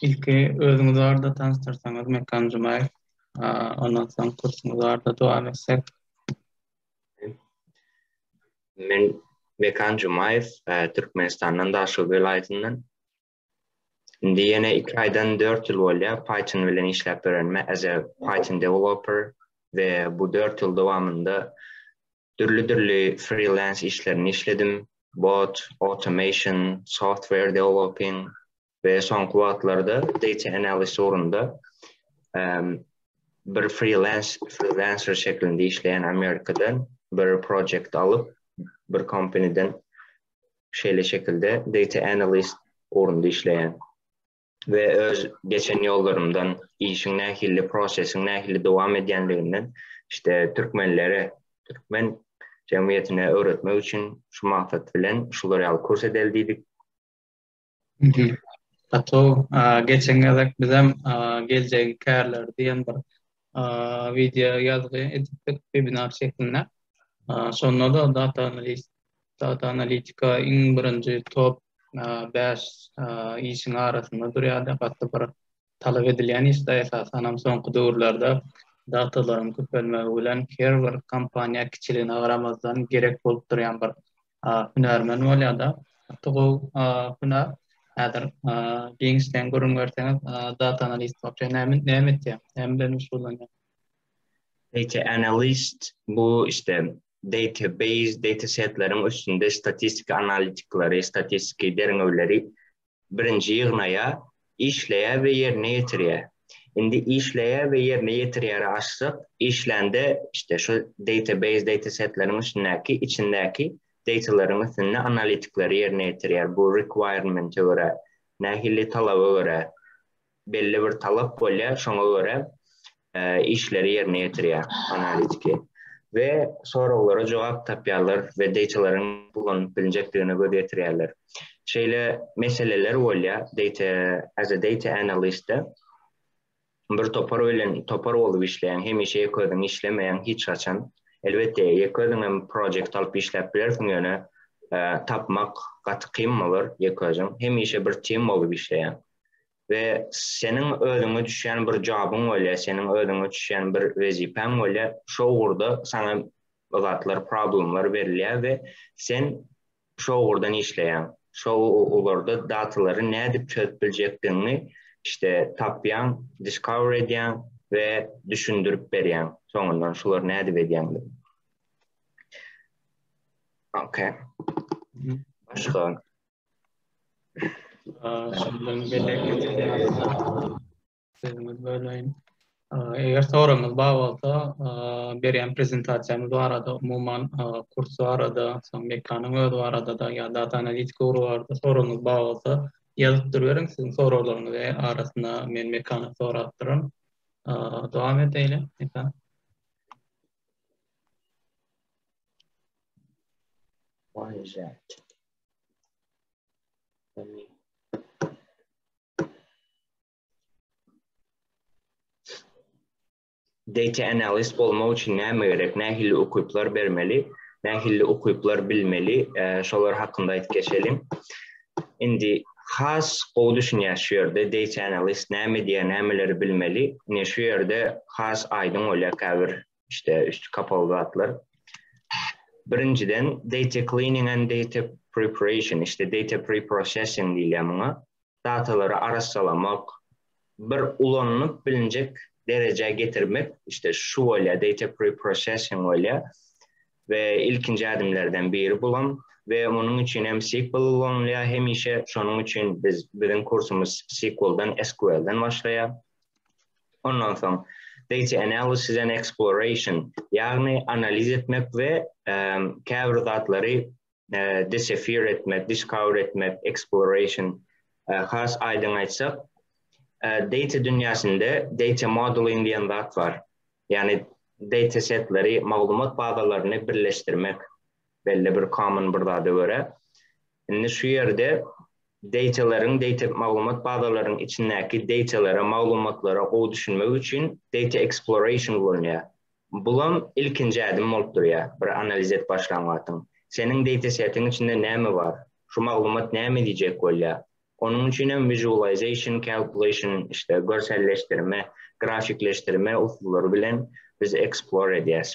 Ilki özüňizi barada tanystyrsaňyz Mekan Jumaýew. Ondan soň kursuňyz barada dowam etsek. Men Mekan Jumaýew, e, Türkmenistandan Daşoguz welaýatyndan. Indi ýene 2 aýdan 4 ýyl bolýar Python bilen işläp ýörenime as a Python developer we bu 4 ýyl dowamynda Dürli-dürli freelance işlerini işledim. Bot, automation, software developing we soňky wagtlarda data analysis ugrunda bir freelance freelancer şeklinde işleýän Amerikadan bir projekt alyp bir kompaniden şeýle şekilde data analyst ugrunda işleýän. we öz geçen ýollarymdan, işiň nähili, prosesiň nähili dowam edýänliginden işte türkmenlere, türkmen jemgyýetine öwretmek üçin şu maksat bilen şular ýaly kurs edeli diýdik. Gatau, geçen gezek bizem geljegi kärler diýen bir wideo ýazgy edipdik webinar şeklinde. Şonda da data analiz, data analitika iň birinji top 5 işiň arasynda durýardy. Gatly bir talap edilýän işde esasan hem soňky döwürlerde datalaryň köpelmegi bilen her bir kompaniýa kiçiligine garamazdan gerek bolup durýan bir hünärmen bolýar-da. Gaty gowy hünär. Häzir giňişleýin gürrüň berseňiz, data analist bolupdy. Näme näme etýär? Näme bilen meşgullanýar? Data analist bu işte database, datasetleriň üstünde statistik analitikleri, statistiki derňewleri Birinji ýygnaýa, işleýä we ýerine ýetirýä. Indi işleýä we ýerine ýetirýäri açsak, işlände işte şu database datasetleriň içindäki içindäki datalaryň üstünde analitikleri ýerine ýetirýär. Bu requirement-e görä, nähili talaba görä belli bir talap bolýar, şoňa görä işleri ýerine ýetirýär analitiki we soraglara jogap tapýarlar we deýtalaryň ulanyp bilinjekdigine göz ýetirýärler. Şeýle meseleler bolýar, deýta as a data analyst-de bir topar bilen topar bolup işleýän, hemişe ýeke özüň işlemeýäň hiç haçan. Elbetde, ýeke özüň hem projekt alyp işläp bilersiň, ýöne tapmak gaty kyn bolar ýeke özüň. Hemişe bir tim bolup işleýäň. we seniň özüňe düşýän bir jobyň bolýar, seniň özüňe düşýän bir wezipäň bolýar, şo ugurda saňa zatlar, problemler berilýär we sen şo ugurdan işleýäň. Şo ugurda datalary nädip çözüp biljekdigiňi işte tapýaň, discover edýäň we düşündirip berýäň. Soňundan şular nädip edýäňdi. Okay. Başga. Şundan Eger soraňyz bar bolsa, berýän prezentasiýamyz barada, umuman kurs barada, soň mekanyň özi barada da ýa data analitika ugry barada soragyňyz bar bolsa, ýazyp duruberiň, siziň soraglaryňyzy arasyna men mekana sorap duraryn. Dowam edeýin, mekan. Why is that? Data analyst bolmak üçin näme gerek? Nähili ukyplar bermeli? Nähili ukyplar bilmeli? E, şolar hakynda aýdyp geçelim. Indi has gowy düşünýär şu ýerde data analyst näme diýýär, nämeleri bilmeli. Ine şu ýerde has aýdyň bolýar käbir işte üstü kapaly zatlar. Birinjiden data cleaning and data preparation, işte data preprocessing diýilýär muňa. Datalary arassalamak, bir ulanylyp bilinjek derejä getirmek, işte şu bolýar data preprocessing bolýar. we ilkinji ädimlerden biri bulam we munuň üçin hem SQL ulanylýar hemişe. Şonuň üçin biz biziň kursumyz SQL-dan, SQL-dan başlaýar. Ondan soň data analysis and exploration, ýagny analiz etmek we käbir zatlary discover etmek, discover etmek, exploration. Has aýdyň aýtsak, data dünýäsinde data modeling diýen zat bar. Ýagny data setleri, maglumat bazalaryny birleşdirmek. belli bir common bir zada görä. Indi şu ýerde data-laryň, data maglumat bazalaryň içindäki data-lara, maglumatlara gowy düşünmek üçin data exploration ulanýar. Bulam ilkinji ädim bolup durýar, bir analiz edip başlan wagtyň. Seniň data-setiň içinde näme bar? Şu maglumat näme edýjek bolýar? Onuň üçin hem visualization, calculation, işte görselleşdirme, grafikleşdirme usullary bilen biz explore edýäs.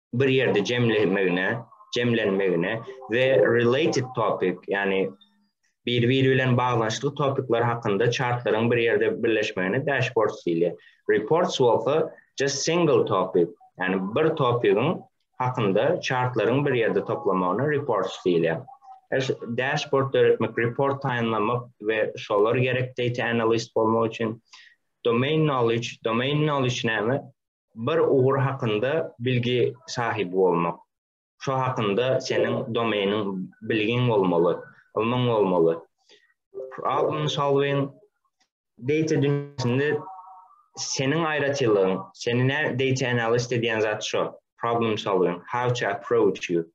bir ýerde jemlenmegine, jemlenmegine we related topic, ýani bir-biri bilen baglaşykly topikler hakynda çartlaryň bir ýerde birleşmegine dashboard diýilýär. Reports bolsa just single topic, ýani bir topigiň hakynda çartlaryň bir ýerde toplamagyna reports diýilýär. Dashboard döretmek, report taýynlamak we şolar gerek data analyst bolmak üçin domain knowledge, domain knowledge näme? Bir ugur hakynda bilgi sahyby bolmak. Şo hakynda seniň domeýniň bilgiň bolmaly, ylmyň bolmaly. Problem solving data dünýäsinde seniň aýratynlygyň, seni nä data analyst edýän zat şo. Problem solving, how to approach you.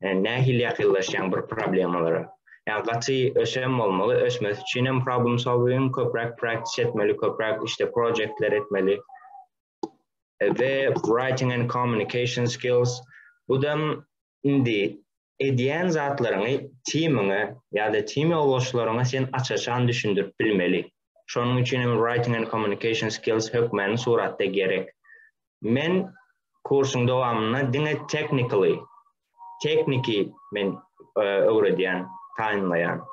e, nähili ýakynlaşýaň bir problemalara. Ýa gaty ösem bolmaly, ösmesi üçin hem problem solving, köpräk praktis etmeli, köpräk işte projektler etmeli. Ve writing and communication skills bu da indi edýän zatlaryňy timiňe ýa-da tim ýoldaşlaryňa sen açaşan düşündirip bilmeli. Şonuň üçin hem writing and communication skills hökmany suratda gerek. Men kursuň dowamynda diňe technically, tekniki men e, öwredýän, taýynlaýan.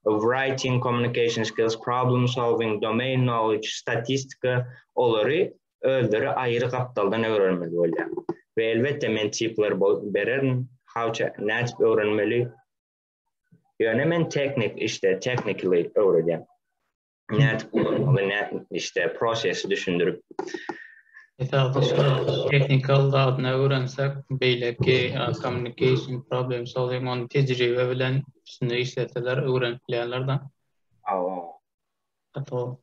Writing, communication skills, problem solving, domain knowledge, statistika olary özleri aýry gapdaldan öwrenmeli bolýar. Ve elbetde men tipler bererin, how to nädip öwrenmeli. Ýöne men teknik işte, technically öwredýän. nädip ulanmaly, nädip işte prosesi düşündirip Esasy teknikal zadyna öwrensek, beýleki communication problem solving on tejribe bilen üstünde işleseler öwrenip bilýärler da. Awa. Ato.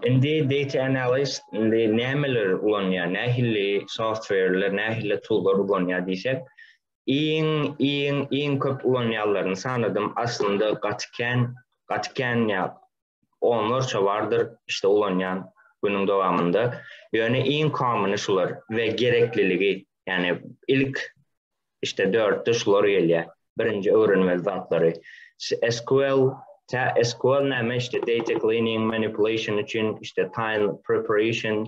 Indi data analyst indi nämeler ulanýar, nähili softwareler, nähili toollar ulanýar diýsek, Iň iň iň köp ulanýanlaryny sanadym aslynda gaty kän gaty kän ýa onlarça bardyr işte ulanýan günüň dowamynda ýöne iň komyny şular we gerekliligi ýani ilk işte dörtde şular gelýär birinji öwrenmeli zatlary sql tä sql näme işte data cleaning manipulation üçin işte time preparation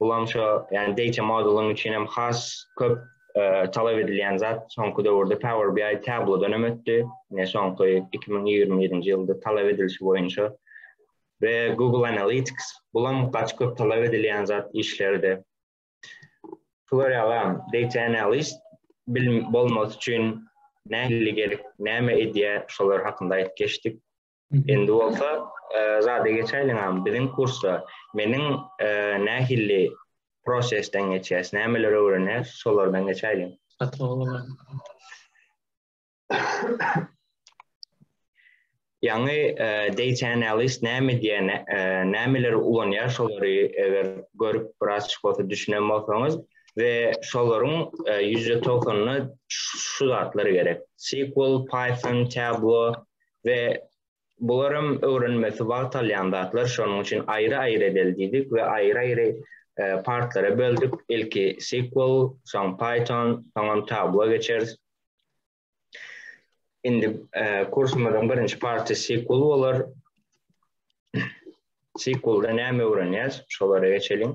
Bulam şu, yani data modeling üçin hem has köp e, talap edilýän zat soňky döwürde Power BI tablodan hem ötdi. Ne soňky 2021-nji ýylda talap edilişi boýunça we Google Analytics bulam gaç köp talap edilýän zat işlerde. Şular ýaly data analyst bilim bolmasy üçin nähili gerek, näme edýär, şolar hakynda aýdyp geçdik. Indi bolsa zada geçäýliň agam. Biziň kursda meniň nähilli prosesden geçýäs, nämeleri öwrenýäs, şolardan geçäýliň. Ýaňy data analyst näme diýýär, nämeleri ulanýar, şolary eger görüp biraz bolsa düşünen bolsaňyz we şolaryň ýüzde togsanyna şu zatlar gerek. SQL, Python, Tableau, we bularam öwrenmesi wagt alýan zatlar, şonuň üçin aýry-aýry edeli diýdik we aýry-aýry e, partlara böldük. Ilki SQL, soň Python, soňam Tableau geçeris. Indi e, kursumyzyň birinji party SQL bolar. SQL-da näme öwrenýäs? Şolara geçeliň.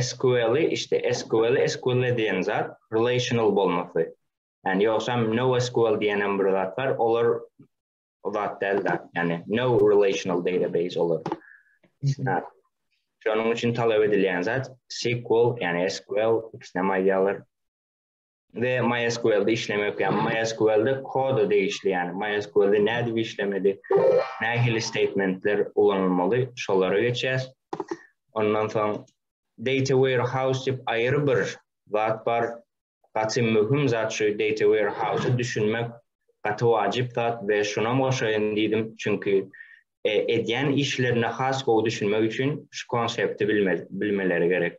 SQL-i işte SQL SQL diýen zat relational bolmasy. Yani ýogsam NoSQL diýen hem bir zat bar. Olar o zat däl zat. Yani no relational database olar. Isnat. Şonuň üçin talap edilýän zat SQL, yani SQL, ikisine maýýalar. we MySQL-de işleme ökýän. MySQL-de koda degişli, ýani MySQL-de nädip işlemeli, nähili statementler ulanylmaly, şolara geçýäs. Ondan soň data warehouse diýip aýry bir zat bar. Gaty möhüm zat şu data warehouse-a düşünmek gaty wajyp zat we şunam goşaýyn diýdim, çünki e, edýän işlerine has gowy düşünmek üçin şu konsepti bilmeleri gerek.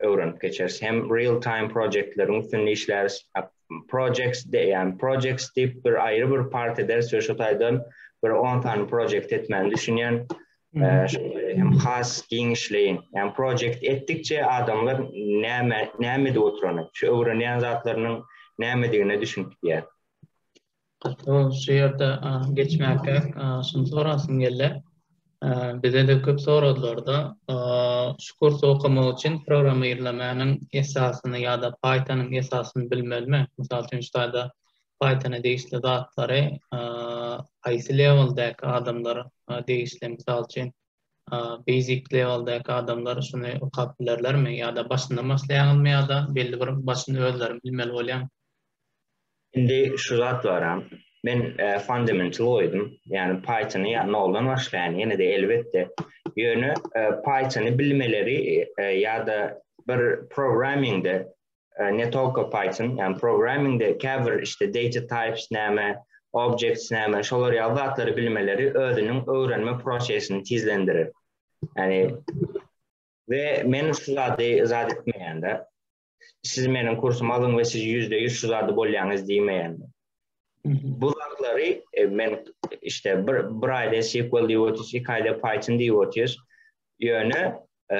öwrenip geçeris hem real time projektleriň üstünde işläris projects diýýän projects diýip bir aýry bir part ederis we şu taýdan bir on sany projekt etmäni düşünýän hem has giňişleýin ýa projekt etdikçe adamlar näme näme edip oturany şu öwrenýän zatlarynyň nämedigine düşünip gidýär Şu ýerde geçmäge şuny sorasym geldi. Bize-de köp soradylar-da, şu kursy okamak üçin programmirlemäniň esasyny ýa-da Python-yň esasyny bilmelimi? Mysal üçin, şu taýda Python-a degişli zatlary haýsy leweldäki adamlar degişli? Mysal üçin, basic leweldäki adamlar şuny okap bilerlermi? Ýa-da başyndan başlaýaňyzmy ýa-da belli bir başyny özleriň bilmeli bolýarmy? Indi şu zat baram. Men fundamental goýdum. Ýagny Pythony noldan başlaýan ýene-de elbetde. Ýöne Pythony bilmeleri ýa-da bir programmingde ne tolko Python, ýagny programmingde käbir işte data types näme, objects näme, şolar ýaly zatlary bilmeleri özüniň öwrenme prosesini tizlendirer. Ýagny we men şu zady zat etmeýän-de. Siz meniň kursumy alyň we siz ýüzde ýüz şu zady bolýaňyz diýmeýän. Bu zatlary e, men işte bir, bir aýda SQL diýip otyrys, iki aýda Python diýip otyrys. Ýöne e,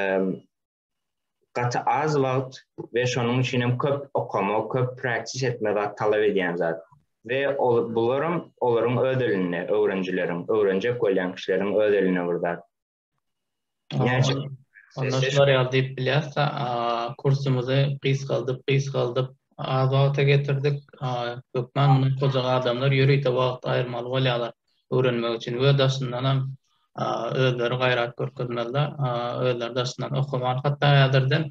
gaty az wagt we şonuň üçin hem köp okama, köp praktis etme zat talap edýän zat. Ve ol, bularam olaryň öz elinde, öwrenjileriň, öwrenjek bolýan kişileriň öz elinde bir zat. Gerçi onda şular ýaly diýip bilýäs-de, kursumyzy gysgaldyp, gysgaldyp, az wagta getirdik. Hökman muny goja adamlar ýörite wagt aýyrmaly bolýarlar öwrenmek üçin we daşyndan hem özleri gaýrat görkezmeliler. Özleri daşyndan okaman, hatda häzirden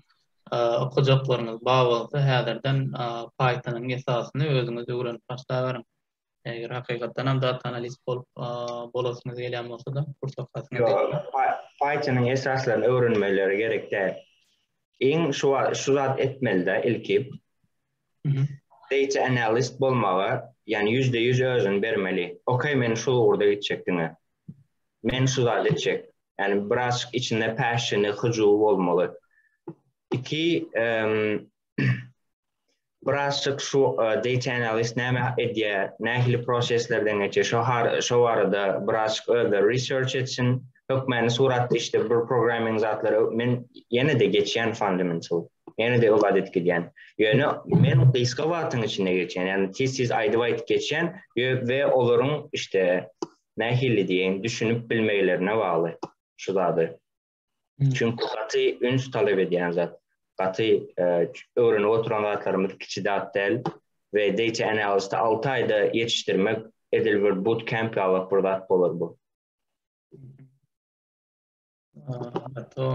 okajaklarymyz bar bolsa, häzirden Python-yň esasyny özüňiz öwrenip başlaberiň. Eger hakykatdan hem data analist bolup bolasyňyz gelýän bolsa-da, kurs okasyňyz ýetmez. Python-yň esaslaryny öwrenmeleri gerek däl. Iň şu şu zat etmeli-de ilki. Data analist bolmaga, ýani %100 özüni bermeli. Okey, men şu ugurda gitjek diňe. Men şu zat etjek. Ýani biraz içinde passion-y, hyjuwy bolmaly. Iki, Birazçyk şu e, data analyst näme edýär, nähili proseslerden geçýär, şu har şu barada birazçyk özde research etsin. Hökmäni suratda işte bir programming zatlary men ýene-de geçýän fundamental. Ýene-de öwad edip gidýän. Ýöne men gysga wagtyň içinde geçýän, ýagny tez-tez aýdyp-aýdyp geçýän we olaryň işte nähili diýen düşünip bilmeglerine bagly şu zady. Çünki gaty üns talap edýän zat. Gaty e, öwrenip oturan zatlarymyz kiçi zat däl we data analysta 6 aýda ýetişdirmek edil bir boot camp ýaly bir zat bolar bu. Ato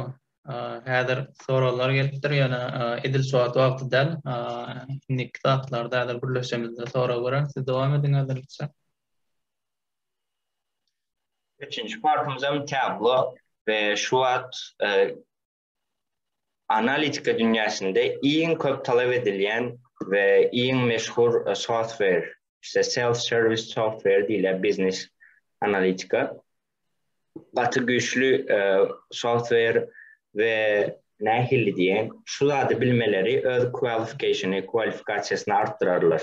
häzir soraglar gelipdir ýöne edil şu wagt wagty däl. Indiki saatlarda häzir gürleşemizde sorag gören siz dowam ediň häzirlikçe. Üçünji partymyzam Tablo we şu wagt analitika dünýäsinde iň köp talap edilýän we iň meşhur softwer, işte self service softwer diýilýär biznes analitika. Gaty güýçli softwer we nähili diýen şu zady bilmeleri öz kwalifikasiýasyny artdyrarlar.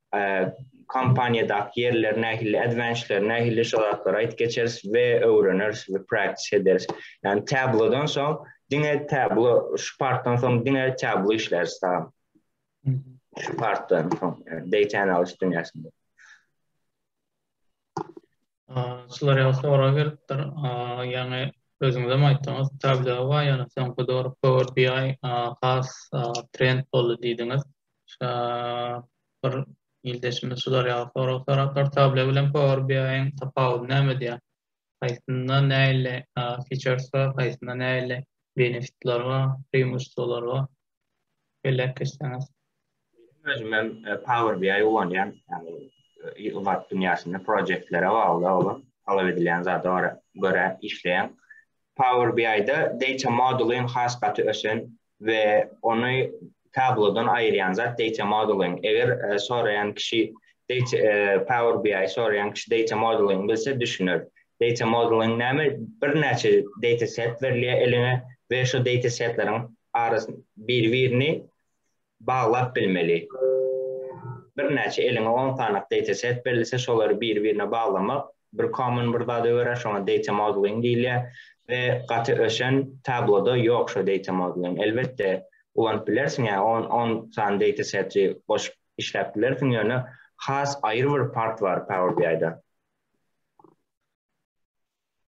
kompaniýadaky ýerler nähili advancedler nähili şu zatlary aýt geçeris we öwreneris we practice ederis. Yani tablodan soň diňe tablo şu partdan soň diňe tablo işleris salam. Şu partdan soň data analysis dünýäsinde. Şular ýaly sorag gelipdir. Ýaňy özüňizem aýtdyňyz, Tableau bar, ýöne soňky döwür Power BI has trend boldy diýdiňiz. Şa bir ildeşimiz şular ýaly sorag sorapdyr. Tableau bilen Power BI-iň tapawudy nämede? Haýsynda nähili features bar, haýsynda nähili benefitler bar, preimущestwolar bar? belläp geçseňiz. Meniň özümem Power BI ulanýan, ýagny ilat dünýäsinde projektlere bagly bolan talap edilýän zada görä işleýän. Power BI-de data modeling has gaty ösen we ony tablodan aýyrýan zat data modeling. Eger soraýan kişi Power BI soraýan kişi data modeling bilse düşüner. Data modeling näme? Birnäçe data set berilýär eliňe we şu data setleriň arasyny bir-birini baglap bilmeli. Birnäçe eliňe on sanak data set berilse, şolary bir-birine baglamak bir common bir zat öwerer, şoňa data modeling diýilýär we gaty ösen Tableau-da ýok şu data modeling. Elbetde, ulanyp bilersiň, ýa on on sany data seti goşup işläp bilersiň, ýöne has aýry bir part bar Power BI-da.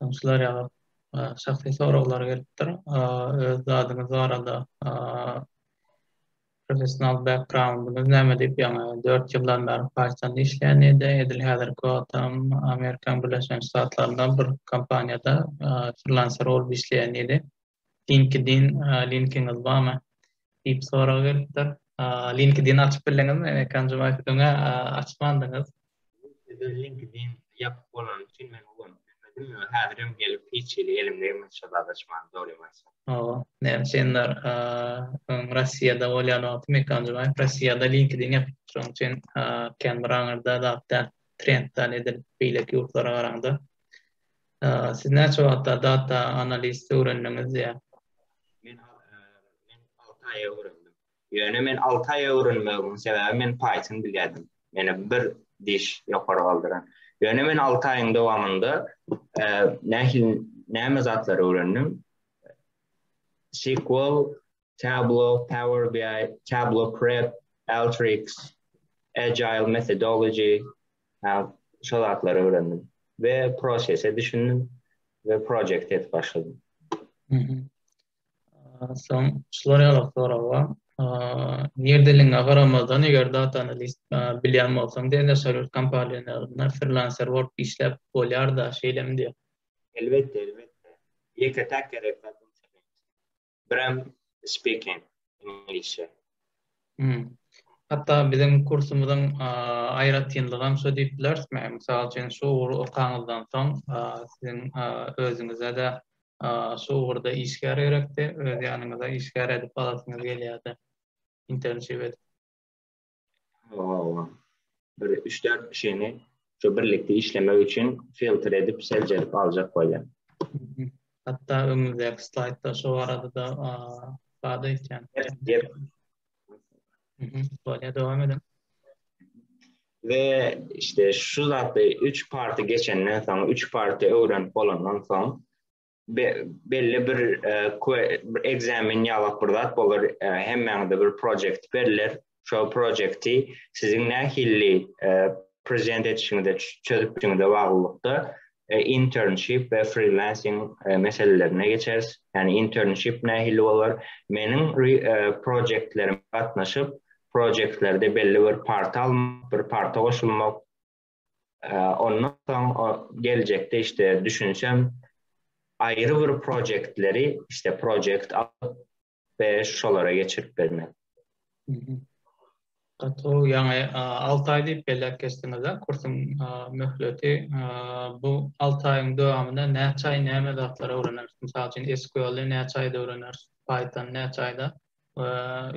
Tanşlar ýa şahsy soraglar gelipdir. Öz zadyňyz barada professional backgroundyňyz näme diýip, ýaňy dört ýyldan bäri Pythonda işleýänidi, edil häzirki wagtam Amerika Birleşen Ştatlarynda bir kompaniýada frillanser bolup işleýänidi. LinkedIn linkiňiz barmy? diýip sorag gelipdir. LinkedIn açyp bildiňizmi? Enekan Jumaýew öňe açmandyňyz. Sizde LinkedIn ýapyk bolany üçin men ulanyp bilmedim. Häzirem gelip hiç hili elimde ýok sadaşman dogrymansa. Hawa, näme sendar öň Rossiýada bolýan wagty Mekan Jumaýew Rossiýada LinkedIn ýapypdyr. Şonuň üçin kän bir aňyrda zat däl. Trend däl edil beýleki ýurtlara garaňda. Siz näçe wagtda data analizi öwrendiňiz diýýä. Men alty aýa öwrendim. Ýöne men alty aýa öwrenmegiň sebäbi men Python bilýärdim. Meni bir diş ýokary galdyran. Ýöne men alty aýyň dowamynda nähili näme zatlary öwrendim? SQL Tableau, Power BI, Tableau Prep, Alteryx, Agile Methodology, şol atlary öwrendim. Ve prosese düşündüm ve projekt et başladım. Son şular ýaly sorawa. Nirdelin agaramazdan eger data analist bilýän bolsaň diýen şeýle kompaniýalarynda freelancer bolup işläp bolýar da şeýlemi diýen. Elbetde, elbetde. Ýeke tak gerek zat. But I'm speaking English. Hmm. Hatta biziň kursumyzyň aýratynlygam şo diýip bilerismi? Mysal üçin, şu ugry okaňyzdan soň, siziň özüňize-de şu ugurda işgär gerekdi, öz ýanyňyza işgär edip alasyňyz gelýärdi. Internship edip. Hawa, bir üç-dört kişini şu birlikde işlemek üçin filtr edip, seljerip aljak bolýar. Hatda öňümizdäki slaýdda şu barada-da bar eýsem. Bolýar, dowam ediň. We işte şu zatda 3 party geçenden soň, 3 party öwrenip bolandan soň, belli bir ekzamen ýalak bir zat bolar hemmäňde bir projekt berler şo projekti siziň nähilli prezident etişiňizde çözüpdiňizde baglylykda internship we freelancing meselelerine geçeris ýani internship nähilli bolar meniň projektlerime gatnaşyp projektlerde belli bir parta almak bir parta goşulmak Ondan soň geljekde işte düşünsem aýry bir projektleri işte projekt alyp we şolara geçirip bermek. Gaty ýaňy 6 aý diýip belläp geçdiňiz-ä kursuň möhleti. Bu 6 aýyň dowamynda näçe aý näme zatlar öwreneris? Mysal üçin SQL-i näçe aýda öwreneris? Python-y näçe aýda? We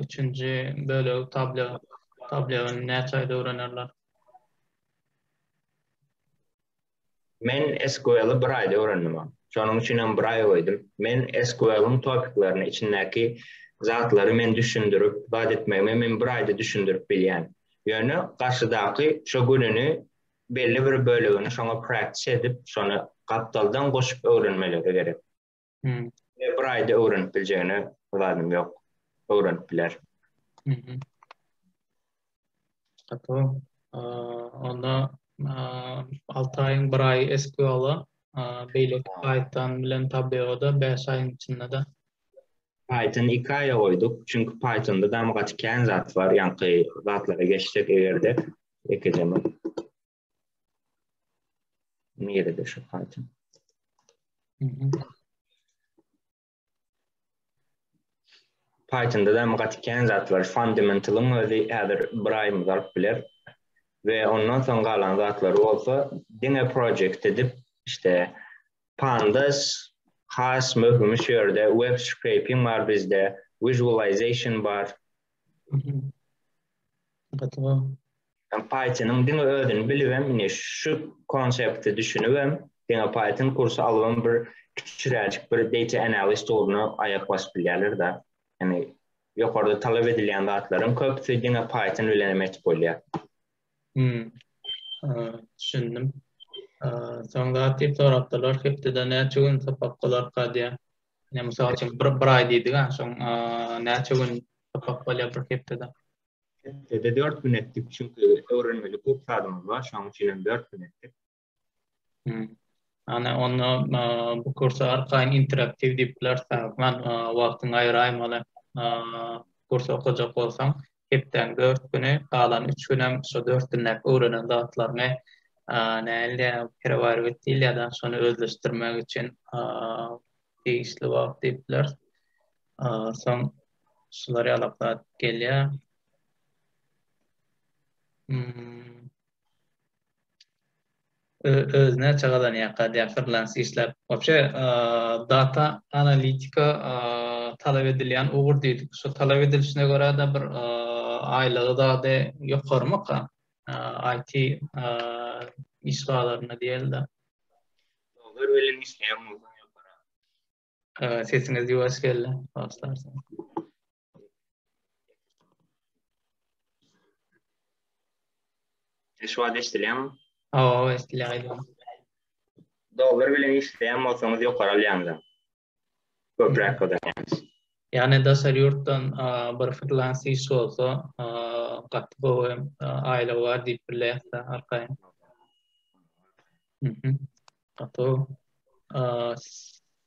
üçünji bölegi Tableau. Tableau-ny näçe aýda öwrenerler? Men SQL-i bir aýda öwrendim. Şonuň üçin hem bir aý goýdum. Men SQL-iň topiklerini, içindäki zatlary men düşündirip, zat etmegime men bir aýda düşündirip bilýän. Ýöne garşydaky şo gününi belli bir bölegini şoňa praktis edip, şony gapdaldan goşup öwrenmeleri gerek. Hmm. E, bir ayda öwrenip biljegine zadym yok. Öwrenip biler. Hmm. Tamam. Onda 6 ayın bir ay SQL-a beýleki Python bilen tabyada 5 ayın içinde de Python 2 aya goyduk. Çünki Python'da da gaty kän zat var. Yankı zatlara geçsek eger de ekeceğim. Nere de şu parça. Python'da da mı gatiken zatlar fundamental'ın özi edir bir ay mı zarp bilir. Ve ondan son galan zatlar olsa dine project edip işte pandas has möhüm şu yerde web scraping var bizde visualization var. Gatıma. Pythonyň diňe özüni bilibem ine şu konsepte düşünibem diňe Python kursy alybam bir kiçiräjik bir data analyst ugruna aýak basyp bilýärler-de. Ýani ýokarda talap edilýän zatlaryň köpüsi diňe Python bilen hem etip bolýar. Hmm. Düşündim. Soň zat diýip sorapdylar, hepdede näçe gün sapak bolar kadýa? Ýa mysal üçin bir bir aý diýdik-ä, soň näçe gün sapak bolýar bir hepdede? Hepdede dört gün etdik, çünki öwrenmeli köp zadymyz bar, şonuň üçin hem dört gün etdik. Ana, onda bu kursa arkaýyn interaktiw diýip bileris, Rahman, wagtyňy aýraýmaly. Kurs okajak bolsaň, hepdäniň dört güni, galan üç gün hem şu dört günläp öwrenen zatlaryňy, nähili perewarywet diýilýär-dä, şony özleşdirmek üçin degişli wagt diýip bileris. Soň şular ýalak zat gelýär. Öz näçe gazanýarka diýýär frilans işläp. Wapşe data analitika talap edilýän ugur diýdik. Şo talap edilişine görä-de bir aýlygy zady ýokarmyka? IT iş bazarynda diýeli-de. Dolar bilen işleýän bolsaň ýokarak. Ee, sesiniz ýuwaş geldi. Başlarsan. Şu wagt eşidilýärmi? Hawa, eşidilýär. Dolar bilen işleýän bolsaňyz ýokary alýaňyz. Köpräk gazanýaňyz. Ýani daşary ýurtdan bir freelance iş bolsa, gaty gowy aýlygy bar diýip bilýärsiz arkaýyn. Gaty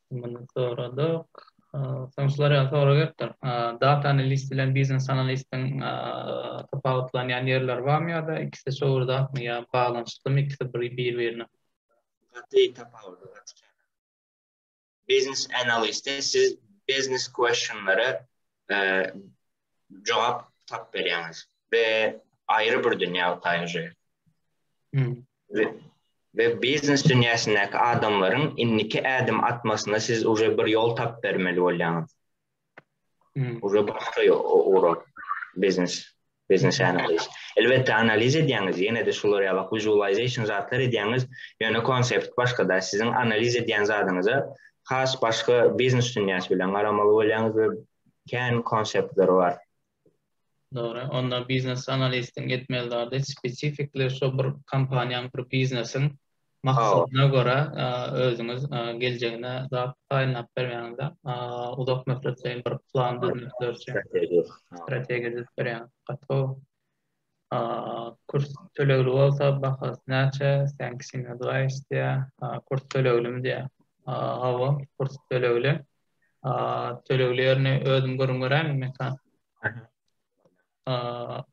Muny soradyk. Soň şular ýaly sorag gelipdir. Data analist bilen biznes analistiň tapawutlanýan ýerleri barmy ýa-da ikisi şowurdatmy ýa baglanyşyklymy ikisi bir-birine? Gaty tapawudy gaty kän. Biznes analisti siz biznes questionlara e, jogap tap berýäňiz we aýry bir dünýä taýýar. Hmm. We, we biznes dünýäsindäki adamlaryň indiki ädim atmasyna siz uje bir ýol tap bermeli bolýaňyz. Uje başga ugrak biznes, biznes analiz. Elbetde analiz edýäňiz, ýene-de şular ýalak visualization zatlar edýäňiz, ýöne konsept başga-da, siziň analiz edýän zadyňyza has başga biznes dünýäsi bilen garamaly bolýaňyz we kän konseptler bar. Dogry. Onda biznes analistiň etmeli zady spesifikli şo bir kompaniýaň, bir biznesiň maksadyna görä özüňiz geljegine zat taýynlap bermäňiz-de, uzak möhletleýin bir plan düzmek, strategiýa düzüp berýäňiz. Gaty gowy. Kurs tölegli bolsa bahasy näçe? Thanks in advice diýýär. Kurs töleglimi diýýär. Hawa, kurs tölegli. Tölegli ýerini özüm gürrüň beräýinmi Mekan?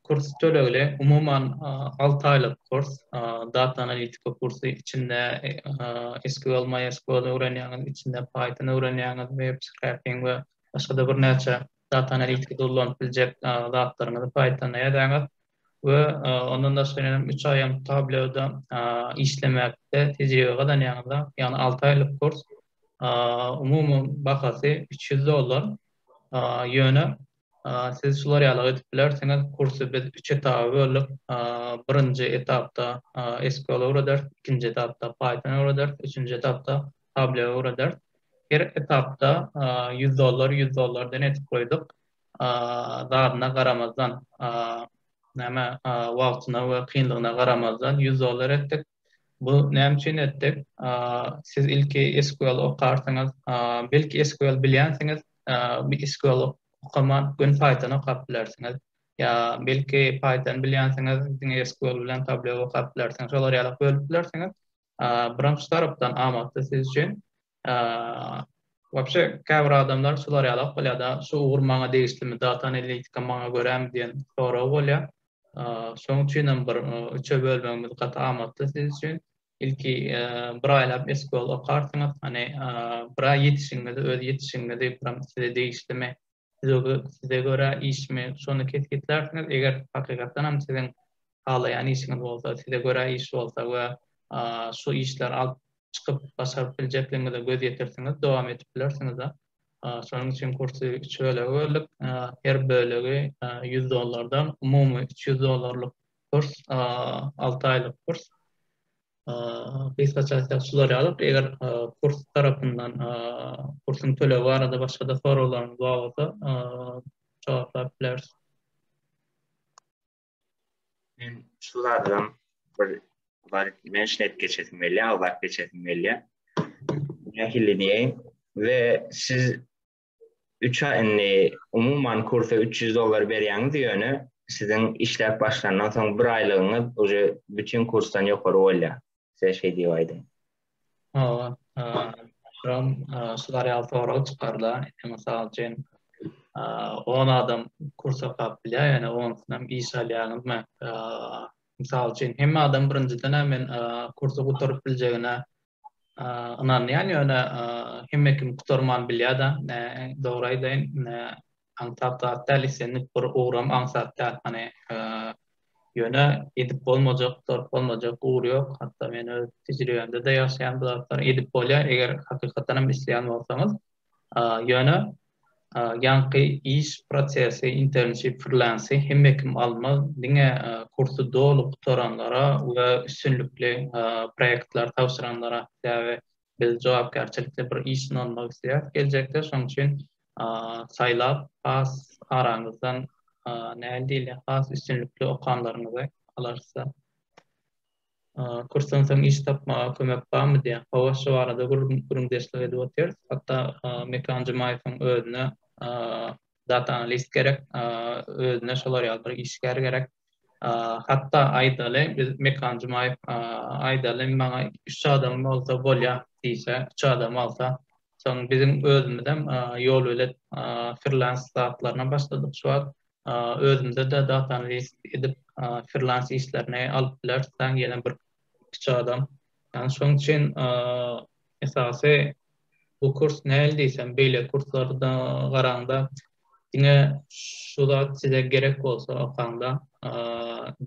Kurs tölegli. Umuman alty aýlyk kurs. Data analitika kursy. Içinde SQL, MySQL öwrenýäňiz, içinde Python öwrenýäňiz, web scraping we başga-da birnäçe data analitiki dolanyp biljek zatlaryňyzy Pythonda ýazaňyz we ondan daşary ýene üç aýam Tableau-da işlemekde tejribe gazanýaňyzda, ýagny alty aýlyk kurs, umumy bahasy üç ýüz dollar, ýöne siz şular ýaly edip bilersiňiz, kursy biz üç etaba böldük, birinji etapda SQL öwrederis, ikinji etapda Python öwrederis, üçünji etapda Tableau Redert her etapda ýüz dollar, ýüz dollar den etip goýduk. Zadyna garamazdan, näme, wagtyna we kynlygyna garamazdan ýüz dollar etdik. Bu näme üçin etdik? Siz ilki SQL okarsyňyz, belki SQL bilýänsiňiz, SQL okaman göni Python okap bilersiňiz. Ýa belki Python bilýänsiňiz, diňe SQL bilen Tableau okap bilersiňiz. Şolar ýaly bölüp bilersiňiz. Birinji tarapdan amatly siz üçin. Wapşe käbir adamlar şular ýalak bolýada, şu ugur maňa degişlimi, data analitika maňa görämi diýen sorag bolýar. Şoň üçinem bir üçe bölmegimiz gaty amatly siz üçin. Ilki bir aýlap SQL okarsyňyz, hany bir aý ýetişigiňizi, öz ýetişigiňizi, size degişlimi size görä işmi, şony kesgitlärsiňiz, eger hakykatdanam siziň halaýan işiňiz bolsa, size görä iş bolsa we şu işleri alyp çykyp başaryp biljekligiňize göz ýetirsiňiz, dowam edip bilersiňiz. Şonuň üçin kursy üç bölege böldük. Her bölegi ýüz dollardan, umumy üç ýüz dollarlyk kurs, alty aýlyk kurs. gysgaça aýtsak şular ýaly, eger kurs tarapyndan kursuň tölegi barada başga-da soraglaryňyz bar bolsa, jogaplap bileris. Men şu zadam bir bar, men şeýt geçesim gelýär, awlak geçesim gelýär. Nähili diýeýin? We siz 3-ä indi umuman kursa 300 dollar berýäňiz ýöne siziň işläp başlandan soň bir aýlygyňyz uje bütin kursdan ýokary bolýar. Size şeý diýip aýdyň. Hawa, şuram şular ýaly sorag çykarda. Indi mysal üçin, 10 adam kursa okap bilýär, ýöne onsynam iş alýaňyzmy? Mysal üçin, hemme adam birinjiden-ä men kursy gutaryp biljegine ynanýan ýöne hemme kim gutarman bilýada dogry aýdaýyn aňsat zat däl islendik bir ugram aňsat däl hany ýöne edip bolmajak gutarp bolmajak ugur ýok hatda men öz tejribemde-de ýaşaýan bu zatlar edip bolýar eger hakykatan hem isleýän bolsaňyz Ýöne ýaňky iş prosesi, internship, freelance hemme kim almaz, diňe kursy doly gutaranlara we üstünlikli proýektler tabşyranlara, sebäbi biz jogapkärçilikli bir iş bilen almak isleýäris geljekde, şonuň üçin saýlap has araňyzdan nähili diýilýär, has üstünlikli okanlaryňyzy alarys-da. Kursdansoň iş tapmaga kömek barmy diýen hawa şu barada gürrüňdeşlik edip otyrys. Hatda Mekan Jumaýewiň özüne data analist gerek, özüne şolar ýaly bir işgär gerek. Hatda aýdaly biz Mekan Jumaýew aýdaly maňa üç adam bolsa bolýa diýse, üç adam alsa, soň biziň özümizem ýolbelet firlans zatlaryna başladyk şu wagt. özümizede data analiz edip frilans işlerini alyp bileris sen ýene bir kiçi adam yani şoň üçin esasy bu kurs näl diýsem beýle kurslarda garaňda diňe şu zat size gerek bolsa okaňda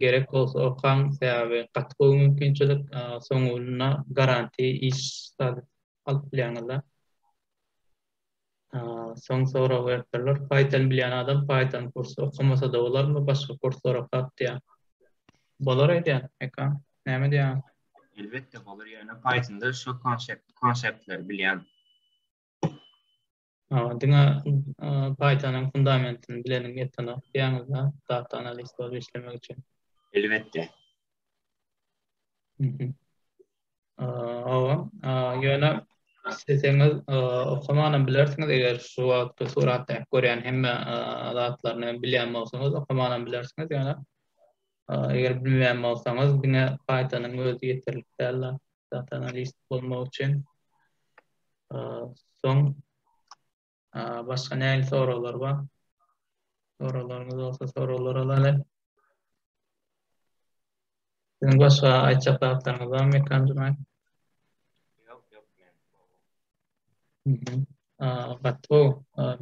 gerek bolsa okaň sebäbi gaty gowy mümkinçilik soň ýylyna garanti iş alyp bilýäňizler. Soň sorag beripdirler, Python bilýän adam Python kursy okamasa-da bolarmy, başga kurslar okap diýýär. Bolar aýdýan, eka, näme diýýäň? Elbetde bolar, ýöne Pythonda şu konseptleri bilýän. Hawa, diňe Python-yň fundamentini bileniň ýetenok diýýäňiz-dä, data analist bolup işlemek üçin? Elbetde. Mhm. Hawa, ýöne isleseňiz okamanam bilersiňiz, eger şu wagtky suratdaky görýän hemme zatlaryny bilýän bolsaňyz, okamanam bilersiňiz, ýöne Eger bilmeýän bolsaňyz, diňe Python-yň özi ýeterlik däl, data analist bolmak üçin. Soň başga nähili soraglar bar? Soraglaryňyz bolsa soraglar alaly. Siziň başga aýtjak zatlaryňyz barmy, Kanjymay? Ýok, ýok, men. Gatgo,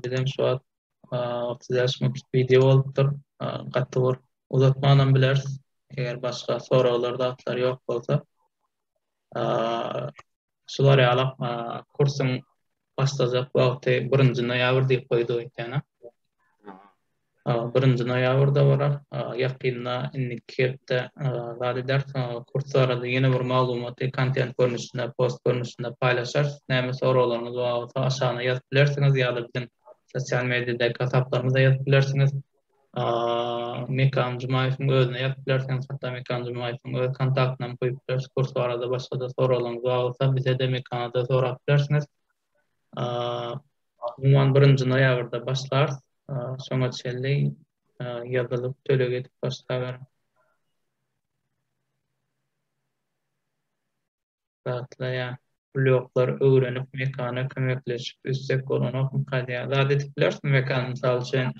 bizem şu wagt otuz bäş minutlyk wideo bolupdyr. Gaty bir uzatmanam bileris. Eger başga soraglar zatlar ýok bolsa. Şular ýaly kursuň başlajak wagty 1-nji noýabr diýip goýdy ekeni. Birinji noýabrda bolar. Ýakynda indiki hepde zat eder. Kurs barada ýene bir maglumaty kontent görnüşinde, post görnüşinde paýlaşarys. Näme soraglaryňyz bar bolsa aşagyna ýazyp bilersiňiz ýa-da biziň Sosial mediýadaky hasaplarymyza ýazyp bilersiňiz. Mekan Jumaýewiň özüne ýazyp bilersiňiz. Hatda Mekan Jumaýewiň öz kontaktyny hem goýup bileris. Kurs barada başga-da soraglaryňyz bar bolsa, bize-de, Mekana-da sorap bilersiňiz. Umuman, birinji noýabrda başlarys. Şoňa çenli ýazylyp, töleg edip başlaberiň. gatlaýar. Bloklar öwrenip mekana kömekleşip üstek bolanokmy kadýa zat edip bilersiň mekan mysal üçin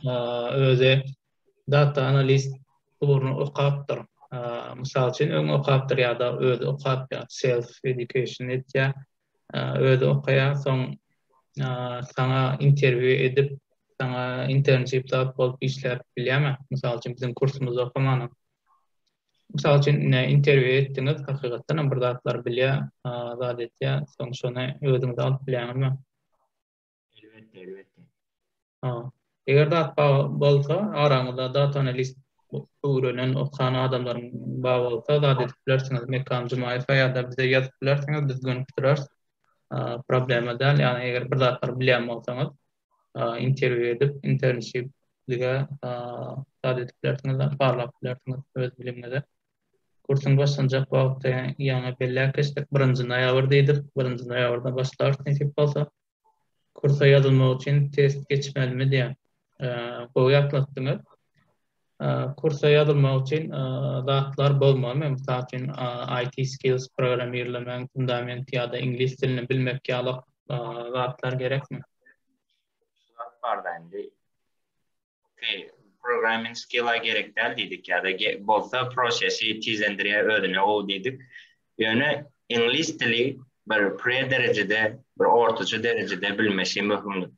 özi data analist ugruny okapdyr mysal üçin öň okapdyr ýada özi okap ýa self education etýä özi okaýa soň saňa interwýu edip saňa internship tap bolup işläp bilýämi mysal üçin biziň kursumyzda okamanam Mysal üçin, ine, interwýu etdiňiz, hakykatdan hem bir zatlar bilýär, zat etýär, soň şony özüňize alyp bilýäňizmi? Elbetde, elbetde. Ha. Eger zat bar bolsa, araňyzda data analist öwrenen, okan adamlaryň bar bolsa, zat edip bilersiňiz. Mekan Jumaýewa ýa-da bize ýazyp bilersiňiz, biz gönükdireris. Problema däl, ýagny eger bir zatlar bilýän bolsaňyz. interwýu edip, internşip dige zat edip bilersiňiz, barlap bilersiňiz öz bilimiňize. Kursuň başlanjak wagty ýaňy belläp geçdik, birinji noýabr diýdik, birinji noýabrda başlarys nesip bolsa. Kursa ýazylmak üçin test geçmelimi diýýän. Gowy ýatlatdyňyz. Kursa ýazylmak üçin zatlar bozmalymy? Mysal üçin, IT skills, programmirlemegiň fundamenti ýa-da iňlis dilini bilmek ýaly zatlar gerekmi? Programming skill-a gerek däl diýdik ýa-da bolsa prosesi tizlendirýär özüne gowy diýdik. Ýöne iňlis dili bir pre-derejede, bir ortaça derejede bilmesi möhümdir.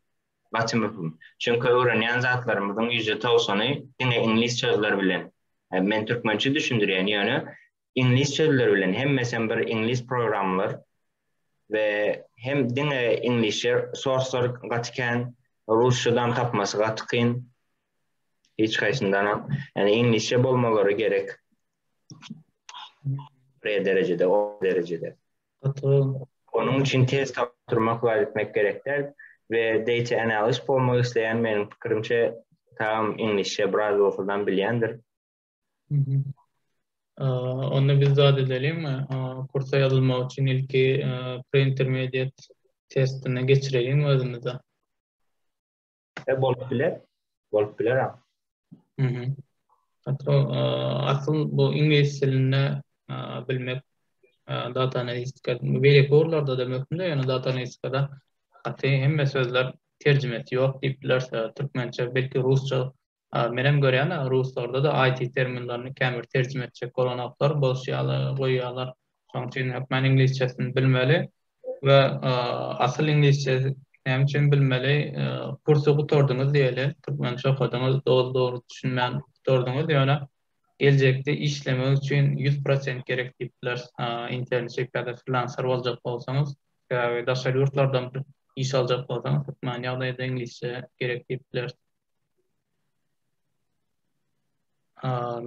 gaty möhüm. Çünki öwrenýän zatlarymyzyň ýüzde togsany diňe iňlis sözler bilen. Men türkmençe düşündirýän, ýöne iňlis sözler bilen, hemmesem bir iňlis programlar we hem diňe iňlisçe sorslar gaty kän, rusçadan tapmasy gaty kyn. Hiç haýsyndanam, ýani iňlisçe bolmalary gerek. Pre derejede, orta derejede. Gaty. Onuň üçin tez tapdyrmak zat etmek gerek däl we data analyst bolmak isleýän meniň pikirimçe Tagam iňlisçe biraz bolsadam bilýändir. Mhm. Onda biz zat edeliňmi? Kursa ýazylmak üçin ilki pre-intermediate testini geçireliňmi özümize? E bolup biler. Bolup biler ha. Mhm. Hatda asyl bu iňlis dilinde bilmek data analistika beýleki ugurlarda da möhümde, ýöne data analistikada gaty hemme sözler terjimesi ýok diýip bilersiň. Türkmençe belki rusça A menem görýän-ä, ruslarda-da IT terminlerini känbir terjime etjek bolanoklar, bos ýaly goýýarlar. Şonuň üçin hökman iňlisçesini bilmeli we asyl iňlisçe näme üçin bilmeli, kursy gutardyňyz diýeli, türkmençe okadyňyz, doly-dogry düşünmän gutardyňyz, ýöne geljekde işlemek üçin ýüz prosent gerek diýip bileris, internçik ýa-da frilanser boljak bolsaňyz, sebäbi daşary ýurtlardan iş aljak bolsaňyz hökman ýagdaýda iňlisçe gerek diýip bileris.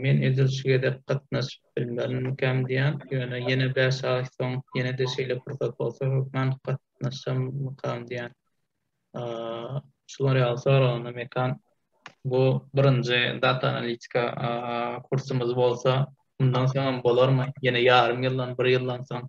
Men edil şu gezek gatnaşyp bilmerinmikäm diýýän, ýöne ýene bäş aý soň ýene-de şeýle pursat bolsa hökman gatnaşarmykam diýýän. Şular ýaly soragynda Mekan bu birinji data analitika kursumyz bolsa, mundan soňam bolarmy? Ýene ýarym ýyldan, bir ýyldan soň?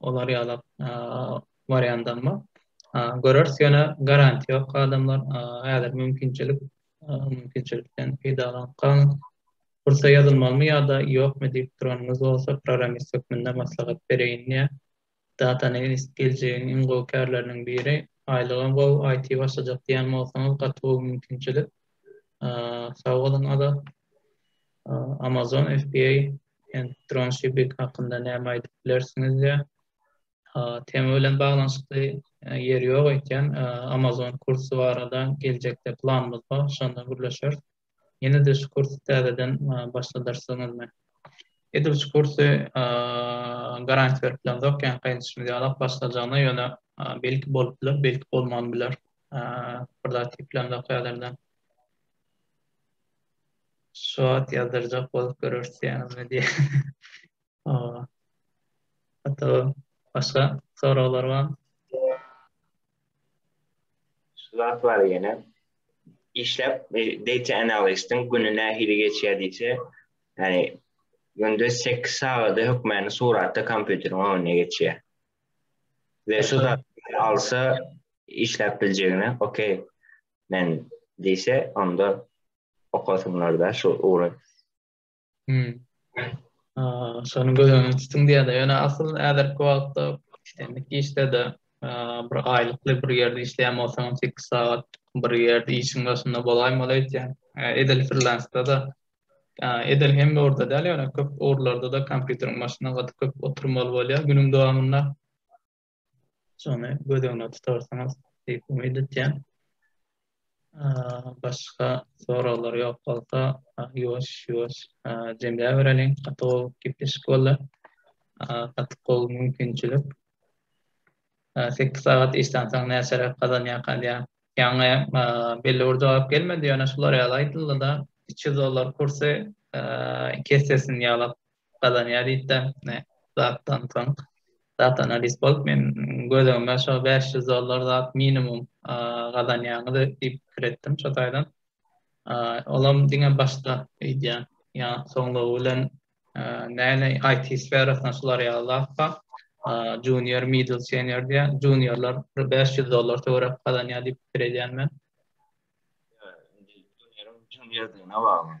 olar ýalak wariandam bar. Göreris ýöne garantiýa ýok adamlar häzir mümkinçilik mümkinçilikden peýdalanyp galyň. Kursa ýazylmalymy ýa-da ýokmy diýip duranyňyz bolsa programmist hökmünde maslahat bereýin diýýän. Data analist geljegiň iň gowy kärleriniň biri. Aýlygam gowy, IT başlajak diýýän bolsaňyz gaty gowy mümkinçilik. Sag boluň Azat. Amazon FBA Ent dronşipping hakynda näme aýdyp bilersiňiz diýýär. Tema bilen baglanyşykly ýeri ýok eýtýän. Amazon kursy barada geljekde planymyz bar, şonda gürleşeris. Ýene-de şu kursy täzeden başladarsyňyzmy? Edil şu kursy garantiýa berip bilemzok, ýa gaýdyşymyz ýalak başlajagyna, ýöne belki bolup biler, belki bolman biler. Bir zat diýip bilemzok häzirden. Şu at ýazdyrjak bolup görüşýäňizmi diýýär. Hawa. Hatda başga soraglar barmy? Şu zat bar ýene. Işläp data analistiň güni nähili geçýär diýse, ýani günde sekiz sagady hökmany suratda kompýuteriň öňünde geçýär. We şu zat alsa işläp biljegine okey. Men diýse, onda okasynlarda şu ugry. Hmm. Şony göz öňünde tutuň diýýärdi. Ýöne asyl häzirki wagtda işlendik işde-de bir aýlykly bir ýerde işleýän bolsaň, 8 sagat bir ýerde işiň başynda bolaýmaly öýtýän. Edil frilansda-da edil hem orada däl, ýöne köp ugurlarda-da kompýuteriň başynda gaty köp oturmaly bolýar günüň dowamynda. Şony göz öňüne tutarsyňyz diýip umyt etýän. Başga soraglar ýok bolsa, ýuwaş ýuwaş jemläp bereliň. Gaty gowy gepleşik boldy. Gaty gowy mümkinçilik. 8 sagat işden soň näçeräk gazanýar galýar? Ýaňy belli bir jogap gelmedi, ýöne şular ýaly aýdyldy-da, 300 dollar kursy iki essesini ýaly gazanýar diýipdir. Zatdan soň data analist bolup men gözegime şo bäş ýüz dollar zat minimum gazanýaňyz diýip pikir etdim şo taýdan. Olam diňe başda öýdýän. Ýa soňlugy bilen näne IT sferasyna şular ýaly zat bar. Junior, middle, senior diýen. Juniorlar bir bäş ýüz dollar töwerek gazanýar diýip pikir edýän men. Junior diýen bar.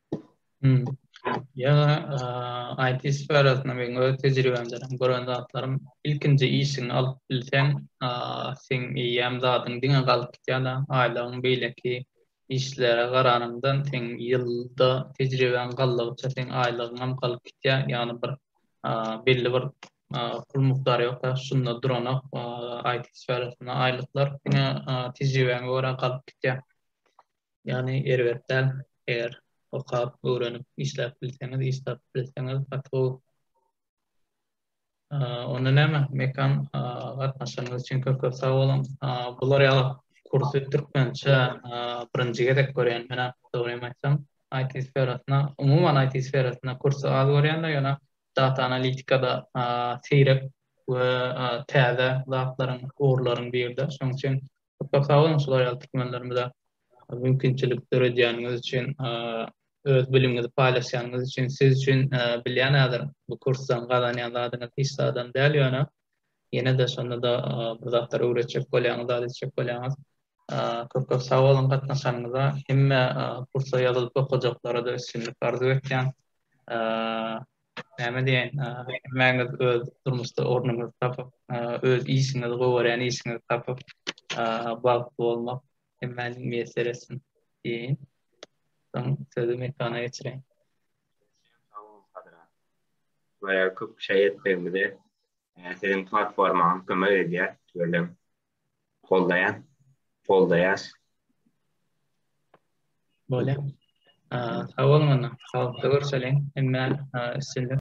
Ýöne IT sferasynda meň öz tejribemden hem gören zatlarym, ilkinji işiňi alyp bilseň, seň eýýäm zadyň diňe galyp gidýär-de, aýlygyň beýleki işlere garanyňdan seň ýylda tejribeň galdygyça seň aýlygyňam galyp gidýär, ýagny bir belli bir pul mukdary ýok-da, şunda duranok IT sferasynda aýlyklar, diňe tejribäňe görä galyp gidýär. Ýagny erbet däl, eger okap, öwrenip, işläp bilseňiz, iş tapyp bilseňiz gaty gowy. Onda näme, Mekan gatnaşanyňyz üçin köp köp sag boluň. Bular ýaly kursy türkmençe birinji gezek görýän menä dogrymy aýtsam. IT sferasyna, umuman IT sferasyna kursy az görýänler ýöne data analitikada seýrek we täze zatlaryň, ugurlaryň birde. Şonuň üçin Köp köp sag boluň şular ýaly türkmenlerimize mümkinçilik döredýäniňiz üçin, öz bilimiňizi paýlaşýanyňyz üçin, siz üçin bilýän häzir bu kursdan gazanýan zadyňyz hiç zadam däl ýöne ýene-de şonda-da bir zatlar öwretjek bolýaňyz, zat etjek bolýaňyz. Köp köp sag boluň gatnaşanyňyza. Hemme kursa ýazylyp okajaklara-da üstünlik arzuw etýän. Näme diýen, hemmäňiz öz durmuşda ornuňyzy tapyp, öz işiňizi, gowarýan işiňizi tapyp, bagtly bolmak hemmäniň miýesser etsin diýeýin. Soň sözi Mekana geçireýin. Sag boluň Sadra. Görä köp şaý etmegimize siziň platformaňyz kömek edýär, tüweleme. Goldaýan. Goldaýas. Bolýa. Sag boluň onda. Sagatda görşeliň. Hemmä üstünlik.